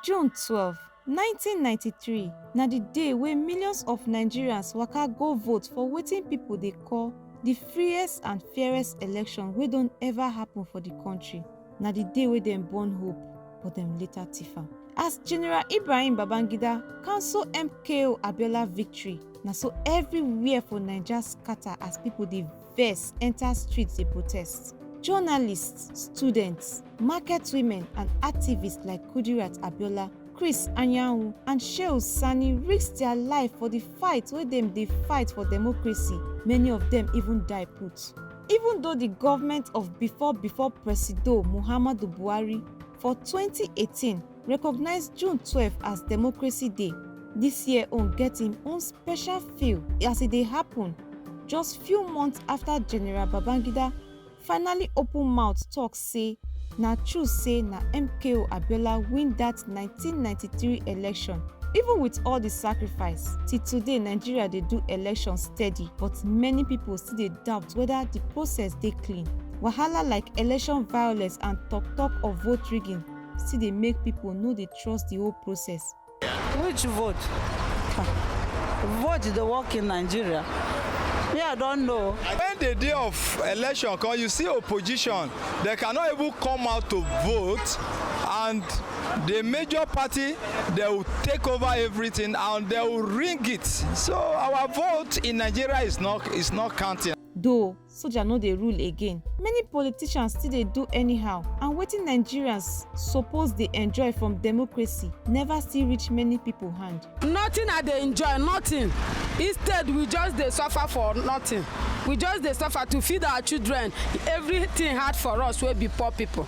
June twelve, nineteen ninety three na di day wey millions of Nigerians waka go vote for wetin pipo dey call di freest and fairest election wey don ever happun for di kontri. Na di day wey dem born hope but dem later tiff am. As General Ibrahim Babangida cancel MKO Abiola victory, na so evriwhere for Naija scata as pipo dey. vex enta street dey protest. Journalists, students, market women and activists like Kudirat Abiola, Chris Anyanwu and Shehu Sani risk dia life for di fight wey dem dey fight for democracy, many of dem even die put. Even though di govment of before before Presido Muhammadu Buhari, for 2018 recognize june 12 as democracy day dis year own get im own special feel as e dey happun just few months afta general babangida finally open mouth tok say na true say na mko abiola win dat 1993 election even wit all di sacrifice till today nigeria dey do election steady but many pipo still dey doubt weda di process dey clean wahala like election violence and tok-tok of vote rigging still dey make pipo no dey trust di whole process. Which vote? Vote dey work in Nigeria? Me I don know. When the day of election come, you see opposition, they cannot even come out to vote and the major party, they will take over everything and they will ring it. So our vote in Nigeria is not, is not counting. Though soja no dey rule again many politicians still dey do anyhow and wetin nigerians suppose dey enjoy from democracy never still reach many pipo hand. nothing i dey enjoy nothing instead we just dey suffer for nothing we just dey suffer to feed our children everything hard for us wey be poor pipo.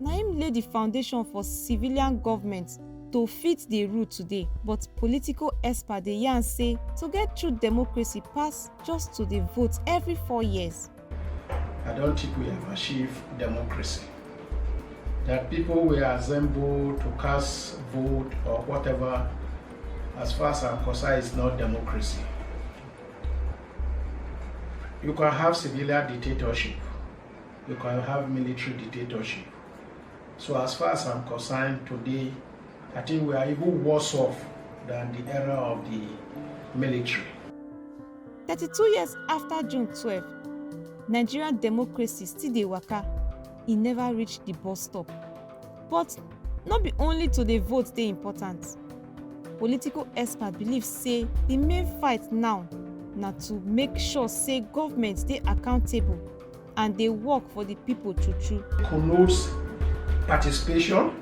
na im lay di foundation for civilian goment to fit dey rule today but political experts dey yarn say to get true democracy pass just to dey vote every four years. I don't think we have achieved democracy. That people will assemble to cast vote or whatever, as far as I'm concerned, is not democracy. You can have civilian dictatorship, you can have military dictatorship. So as far as I'm concerned today, I think we are even worse off than the era of the military. 32 years after June 12, Nigerian democracy still dey waka, e never reach the bus stop. But no be only to dey vote dey important. Political experts believe say the main fight now na to make sure say government dey accountable and dey work for di pipo true true. connotes participation,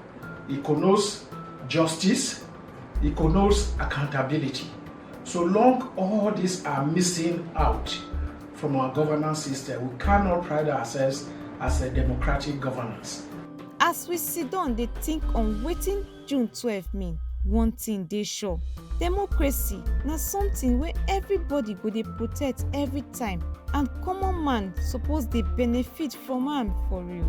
it connotes justice, it connotes accountability. So long all these are missing out from our governance system, we cannot pride ourselves as a democratic governance. As we sit down dey think on wetin June twelve mean? One thing dey sure, democracy na something wey everybody go dey protect every time and common man suppose dey benefit from am for real.